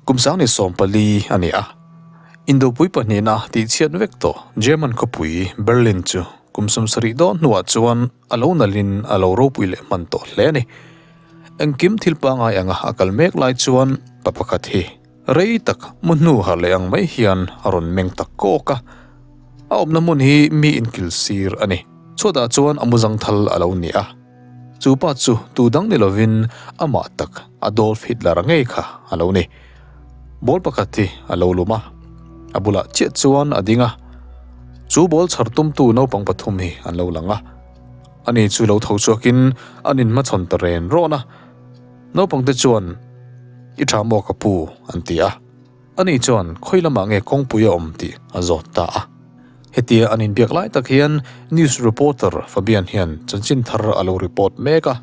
Kum Sanghni sawm pali a ni a, Indopui pahnihna tihchhiat vek tawh German khawpui Berlin chu kum sawm sarih dawn hnuah chuan a lo nalhin a lo ropui leh hman tawh hle a ni. Engkim thil pangngai anga a kal mek lai chuan pa pakhat hi rei tak mu hnu harh leh ang mai hian a rawn meng tak kawk a. A awmna hmun hi mi inkilh sir a ni. Chhuatah chuan a muzang thal a lo ni a. Chupa chu tu dang ni lovin amah tak a Dolph Hitler a ngei kha a lo ni. Ball pakhat hi a lo lum a, a bulah chiah chuan a ding a. Chu ball chhar tumtu naupang pathum hi an lo lang a. Ani chu lo tho chhuakin an inhmachhawn ta ren rawn a. Naupangte chuan, I tha maw ka pu? an ti a. A nih chuan khawi lamah nge kawngpui a awm tih a zawt ta a. Hetia an in biak lai tak hian news reporter Fabian hian chanchin thar a lo report mek a,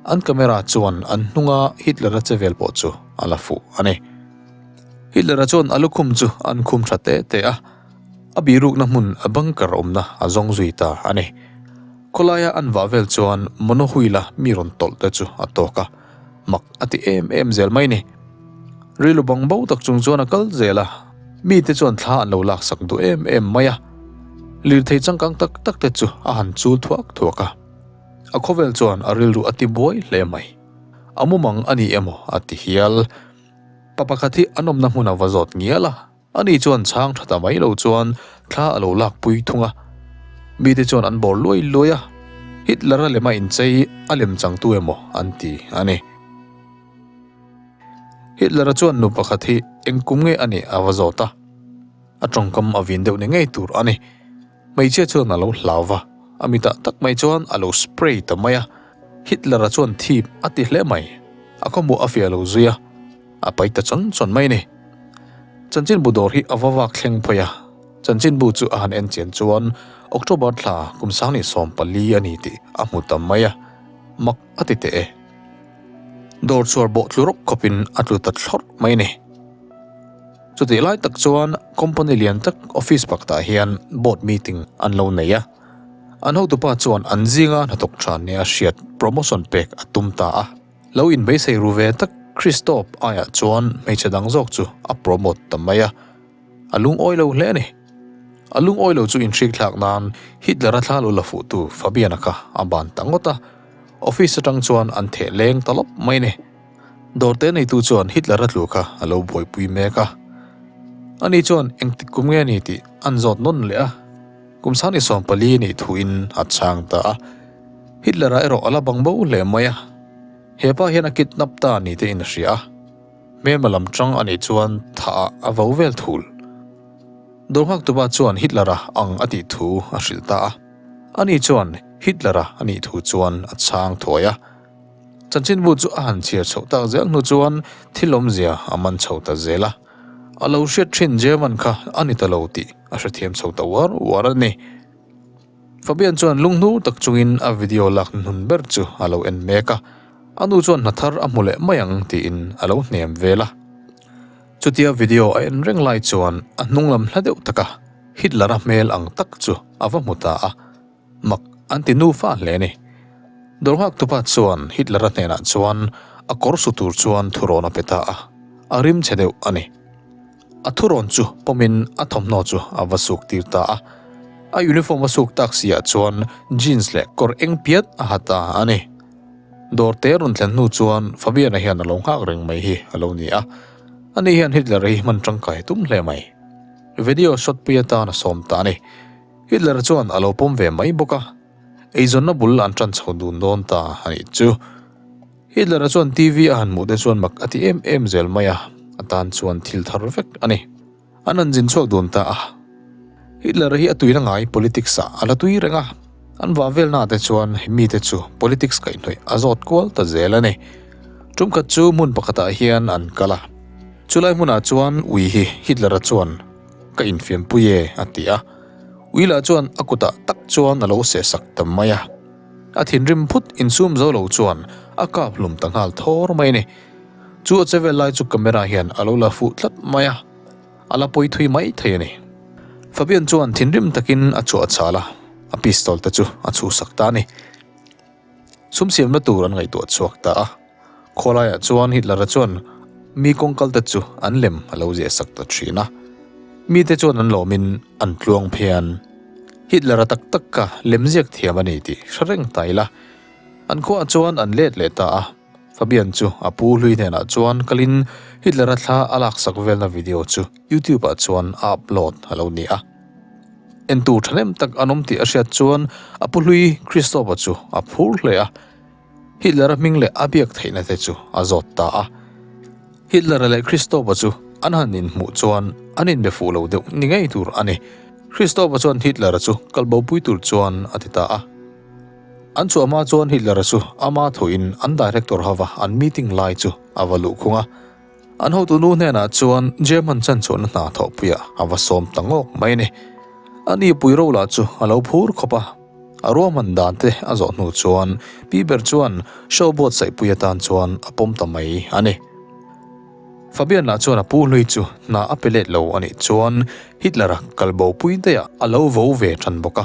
an camera chuan an hnunga Hitler-a che vel pawh chu a la fuh a ni. Hitler-a chuan a lukhum chu a an khum tha teh teh a, a bihrukna hmun bunker awmna a zawng zui ta a ni. Khawlaia an vah vel chuan Monohuila mi rawn tawlh te chu a tawk a. Mak a ti em em zel mai ni. Rilru bang bo tak chung chuan a kal zel a, mite chuan thla an lo lak sak duh em em mai a. Lirthei changkang tak tak te chu a han chul thuak thuak a. A khawvel chuan a rilru a ti buai hle mai. A mumang a ni emaw a ti hial. Pa pakhat hi an awmna hmuna va zawt ngial a. Ani chuan chhang tha ta mai lo chuan thla a lo lak pui thung a, mite chuan an bawr luai luai a, Hitler-a lema inchei a lem changtu emaw an ti a ni. Hitler-a chuan nu pakhat hi engkum nge a nih a va zawt a, a tawngkam a vin deuh ni ngei tur a ni. Hmeichhia chuan a lo hlau va, a mi tah tak mai chuan a lo spray ta mai a, Hitler-a chuan thip a ti hle mai, a khawmuah a fiah lo zui a, a pai ta chawn chawn mai ni. Chanchinbu dawr hi a va vak thleng phawih a, Chanchinbu chu a han en chian chuan October thla kum sang leh sawm pali a ni tih a hmu ta mai a, mak a ti teh e. Dawr chhuar bawh tlu rawk khawpin a tlu ta thlawrh mai ni. Chutih lai tak chuan company lian tak office baktah hian board meeting an lo nei a, an hotupa chuan an zinga hnathawk tha nia hriat promotion pek a tum ta a, lo in beisei ru ve tak Christoph aiah chuan hmeichhe dang zawk chu a promote ta mai a, a lungawi lo hle ni. A lungawi lo chu inhrikthlak nan Hitler-a thla lo la fuh tu Fabiana kha a ban ta ngawt a, office atang chuan an theh leng ta lawp mai ni. Dawrte neitu chuan Hitler-a tlu kha a lo buaipui mek a, ani chuan engtik kum nge ni tih an zawt nawn leh a, kum sang ni sawm pali nih thuin a chhang ta a, Hitler-a erawh a la bang bo hle mai a, hepa hian a kidnap ta a ni tih in hria a, Hmelma lam chang anih chuan thah-ah a vo vel thul. Dawr nghak tupa chuan Hitler-a ang a tih thu a hrilh ta a, ani chuan Hitler-a a nih thu chuan a chhang thuai a, Chanchinbu chu a han chhiar chhoh tak zel hnu chuan thil awmzia a man chho ta zel a, a lo hriat thin German kha a ni ta lo tih a hrethiam chho ta uar uar a ni. Fabian chuan lung hnu tak chungin a video lakna hnun ber chu a lo en mek a, a nu chuan hna thar a hmu leh mai ang tiin a lo hnem vel a. Chutia video a en reng lai chuan a hnunglam hla deuh taka Hitler-a hmel ang tak chu a va hmu ta a, Mak an ti nu fâl hle ni. Dawrhngak tupa chuan Hitler-a hnenah chuan a kawr su tur chuan thurawn a pe ta a, a rim che deuh a ni. A thurawn chu pawmin a thawmhnaw chu a va suk tir ta a. A uniform a suk tak si ah chuan jeans leh kawr eng piat a ha ta a ni. Dawr te rawn thlen hnu chuan Fabiana hian a lo nghak reng mai hi a lo ni a. Ani hian Hitler-a hi hman tangkai tum hle mai. Video shot pui atan a sawm ta a ni. Hitler chuan a lo pawm ve mai bawk a, eizawnna bul an tan chho dun dawn ta a nih chu. Hitler-a chuan TV a han hmuh te chuan mak a ti em em zel mai a, a tan chuan thil thar vek a ni. An han zin chhuak dun ta a. Hitler hi a tui la ngai politics-ah a la tui reng a, an vah velnaah te chuan he mite chu politics kaihhnawih a zawt kual ta zel a ni. Tumkhat chu hmun pakhatah hian an kal a, chulai hmunah chuan ui hi Hitler-a chuan Ka infiampuie a ti a. Willa chuan a kutah tak chuan a lo seh sak ta mai a. A thinrim phut insum zo lo chuan a kap hlum ta nghal thawr mai a ni. Chu a che vel lai chu camera hian a lo la fuh tlat mai a, a la pawi thui mai thei a ni. Fabian chuan thinrim takin a chhuah a chal a, a pistol te chu a chhuhsak ta a ni. Sumsiamna tur an ngaihtuah chhuak ta a. Khawlaiah chuan Hitler-a chuan mi kawng kalte chu an lem a lo ziahsak ta thin a. Mite chuan an lawmin an tluang phian. Hitler-a tak tak kha lem ziak thiam a ni tih hre reng ta ila. An khuaah chuan an let leh ta a. Fabian chu a pu hlui hnenah chuan kalin Hitler-a thla a laksak velna video chu YouTube-ah chuan a upload a lo ni a. En tur tha nem tak an awm tih a hriat chuan a pu hlui Christoph-a chu a phur hle a. Hitler-a hming leh a biak theihna te chu a zawt ta a. Hitler-a leh Christoph-a chu an han inhmuh chuan an inbe fuh lo deuh ni ngei tur a ni. Christoph-a chuan Hitler-a chu kalbopui tur chuan a ti ta a. An chu ama chuan Hitler-a chu ama thuin an director hova an meeting lai chu a va luh khung a. An hotunu hnenah chuan German chanchhuahna hna thawhpuiah a va sawm ta ngawk mai a ni. A nipui ro lah chu a lo phur khawp a. A ruahman dante a zawh hnu chuan pi ber chuan show buatsaihpui atan chuan a pawm ta mai a ni. Fabian lah chuan a pu hlui chu hna a pe let lo a nih chuan Hitler-a kalbo pui daiha a lo vo ve than bawk a.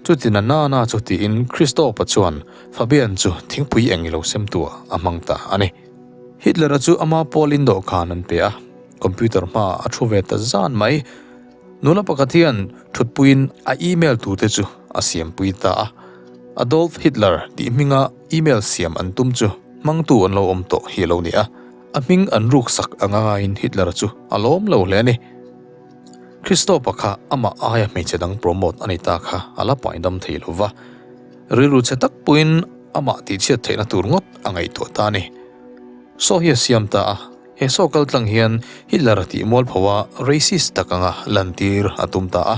Chuti na nana chu tiin Christoph-a chuan Fabian chu thingpui eng ilo sem tua a hmang ta a ni. Hitler-a chu ama Paul-in dawhkan an pe a, computer hma a thu ve ta zan mai. Nula pakhat hian thutpuiin a email tute chu a siampui ta a. Adolf Hitler tih hminga email siam an tum chu hmangtu an lo awm tawh hi alo ni a, a hming an ruksak a ngaiin Hitler-a chu a lawm lo hle a ni. Kristo pakhat amah aia hmeichhe dang promote a ni ta kha a la paidam thei lo va, rilru che tak pawhin amah tihchhiat theihna tur ngawt a ngaihtuah ta a ni. Saw hi a siam ta a, he saw kal tlang hian Hitler a tih mual pho a racist tak anga lantir a tum ta a.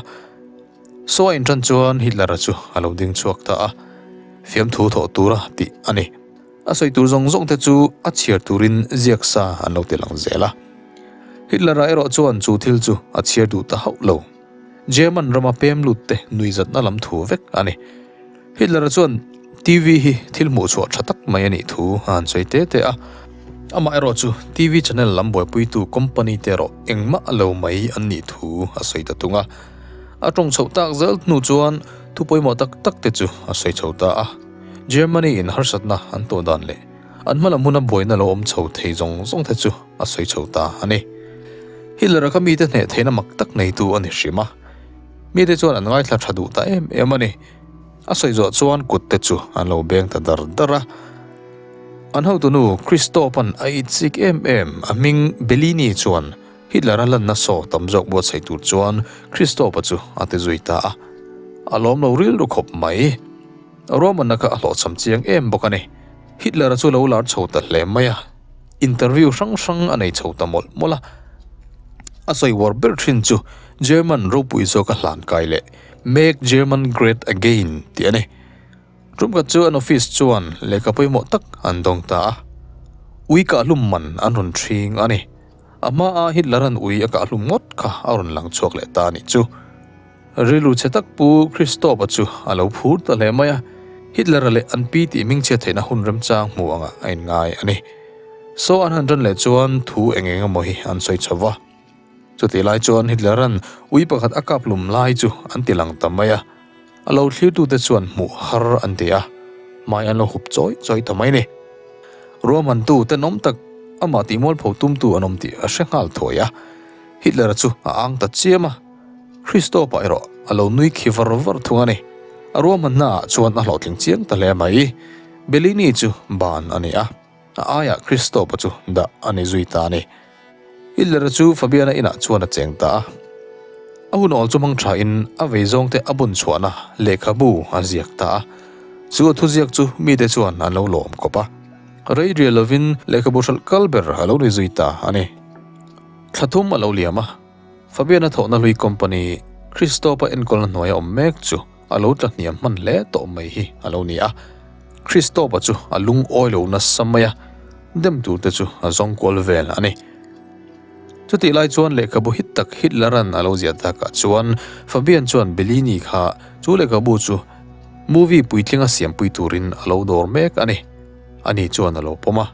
Saw a inṭan chuan Hitler-a chu a lo ding chhuak ta a, fiamthu thawh tura tih a ni. A sawi tur zawng zawng te chu a chhiar turin ziak sa an lo ti lang zel a. Hitler-a erawh chuan chu thil chu a chhiar duh ta hauh lo. German rama pem lut te nui zatna lam thu vek a ni. Hitler-a chuan TV hi thil hmuh chhuah tha tak mai a nih thu a han sawi te te a. Amah erawh chu TV channel lam buaipuitu company te erawh engmah a lo mai an nih thu a sawi ta tung a. A tawng chhoh tak zel hnu chuan thu pawimawh tak tak te chu a sawi chho ta a. Germany in harsatna an tawh dan leh an hma lam huna buaina lo awm chho thei zawng zawng te chu a sawi chho ta a ni. Hitler-a kha mite hneh theihna mak tak neitu a ni hrim a, mite chuan an ngaithla tha duh ta em em a ni. A sawi zawh chuan kut te chu an lo beng ta dar dar a. An hotunu Christoph-an a itchik em em a hming Bellini chuan Hitler-a hlanna sawh tam zawk buatsaih tur chuan Christoph-a chu a ti zui ta a, a lawm lo rilru khawp mai. Roman-a kha a hlawhchham chiang em bawk a ni. Hitler-a chu lo lar chho ta hle mai a, interview hrang hrang a nei chho ta mawlh mawlh a. A sawi uar ber thin chu German ropui zawka hlan kai leh Make German Great Again tih a ni. Ṭum khat chu an office chuan lehkha pawimawh tak an dawng ta a, uikah hlum man an rawn ṭhing a ni. A hma a Hitler an ui a kah hlum ngawt kha a rawn lang chhuak leh ta anih chu. Rilru che tak Pu Christoph-a chu a lo phur ta hle mai a, Hitler-a leh an pi tih ming chiat theihna hun remchang hmuh angah a inngai a ni. Saw an han ran leh chuan thu eng eng emaw hi an sawi chho va. Chutih lai chuan Hitler-an ui pakhat a kap hlum lai chu an ti lang ta mai a. A lo thlirtute chuan hmuh har an ti a, hmai an lo hup chawi chawi ta mai ni. Ruahmantu tenawm tak amah tihmualpho tumtu an awm tih a hre nghal thuai a, Hitler-a chu a ang ta chiam a, Hristawpa erawh a lo nui khi var var thung a ni. A ruahman hnaah chuan a hlawhtling chiang ta hle mai. Bellini chu ban a ni a. A aiah Christopha chu dah a ni zui ta ni? Hitler-a chu Fabiana inah chuan a cheng ta a. A hun awl chu hmang thain a vei zawngte a bun chhuahna lehkhabu a ziak ta a. Chu a thu ziak chu mite chuan an lo lawm kawp a. Reiria lovin lehkhabu hralh kal ber a lo ni zui ta a ni. Thla thum a lo liam a, Fabiana thawhna hlui company Christopha enkawlna hnuaia awm mek chu. A lo tla hniam hman hle tawh mai hi a lo ni a, Kristopa chu a lungawi lo nasa mai a, dem tur te chu a zawng kual vel a ni. Chutih lai chuan lehkhabu hit tak Hitler-a'n a lo ziah dakah chuan Fabian chuan Bellini kha chu lehkhabu chu movie puitlinga siampui turin a lo dawr mek a ni. A ni chuan a lo pawm a.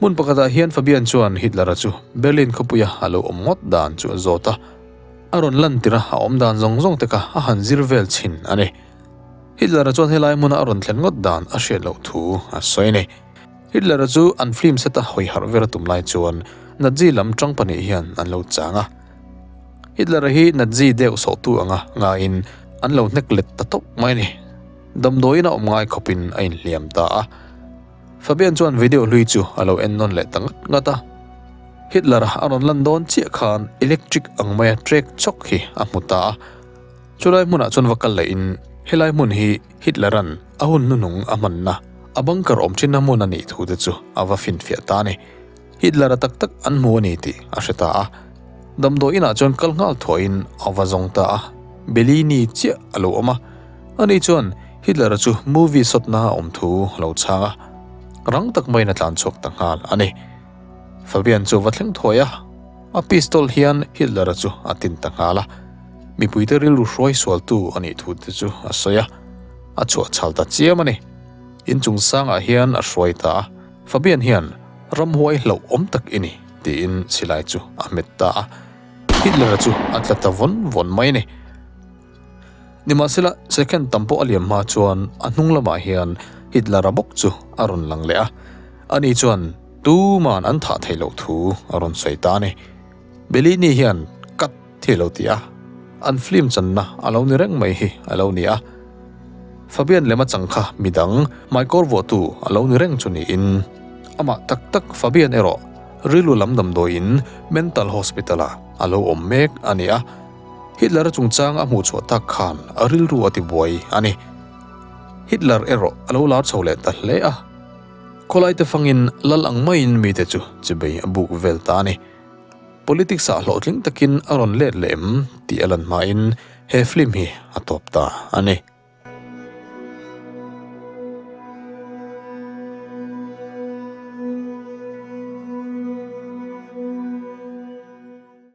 Hmun pakhatah hian Fabian chuan Hitler-a chu Berlin khawpuia a lo awm ngawt dan chu a zawt a. A rawn lantira a awm dan zawng zawng te kha a han zir vel chhin a ni. Hitler-a chuan he lai hmuna a rawn thlen ngawt dan a hriat loh thu a sawi a ni. Hitler-a chu an film set-a hawi harh ver a tum lai chuan Nazi lam ṭang pahnih hian an lo chang a. Hitler-a hi Nazi deuh sawhtu anga ngaiin an lo hnek let ta tawp mai a ni. Damdawiin a awm ngai khawpin a inhliam ta a. Fabian chuan video hlui chu a lo en nawn leh ta ngat ngat a. Hitler a rawn lan dawn chiah khan electric ang maia trek chawk hi a hmu ta a. Chulai hmunah chuan va kal lehin helai hmun hi Hitler-a'n a hun hnunung a hmanna, a bunker awm thinna hmun a nih thu te chu a va finfiah ta a ni. Hitler-a tak tak an hmu a ni tih a hre ta a, damdawi inah chuan kal nghal thuaihin a va zawng ta a, beli ni chiah a lo awm a, a ni chuan Hitler-a chu movie sawtna a awm thu a lo chhang a, rang tak maiin a tlan chhuak ta nghal a ni. Fabian chu a va thleng thuai a, a pistol hian Hitler-a chu a tin ta nghal a, mipuite rilru hruai sualtu a nih thu te chu a sawi a, a chhuah chhal ta chiam a ni. Inchung sangah hian a hruai ta a. Fabian hian ramhuai hloh awm tak i ni, tiin Silai chu a hmet ta a. Hitler-a chu a tla ta vawn vawn mai ni. Nimahsela, second tam pawh a liam hma chuan a hnung lamah hian Hitler-a bawk chu a rawn lang leh a. Ani chuan tuman an thah theih loh thu a rawn sawi ta a ni. Bellini hian cut. Thei lo ti a, an film channa a lo ni reng mai hi a lo ni a. Fabian lem a changkha midang maikawr vuahtu a lo ni reng chu niin, amah tak tak Fabian erawh rilru lam damdawiin mental hospital-ah a lo awm mek a ni a. Hitler-a chungchang a hmuhchhuah tak khan a rilru a ti buai a ni. Hitler erawh a lo lar chho leh ta hle a. Khawlaite fangin lal ang maiin mite chu chibei a buk vel ta a ni. Politics-ah hlawhtling takin a rawn let leh em? tih a lan hmain he film hi a tawp ta a ni.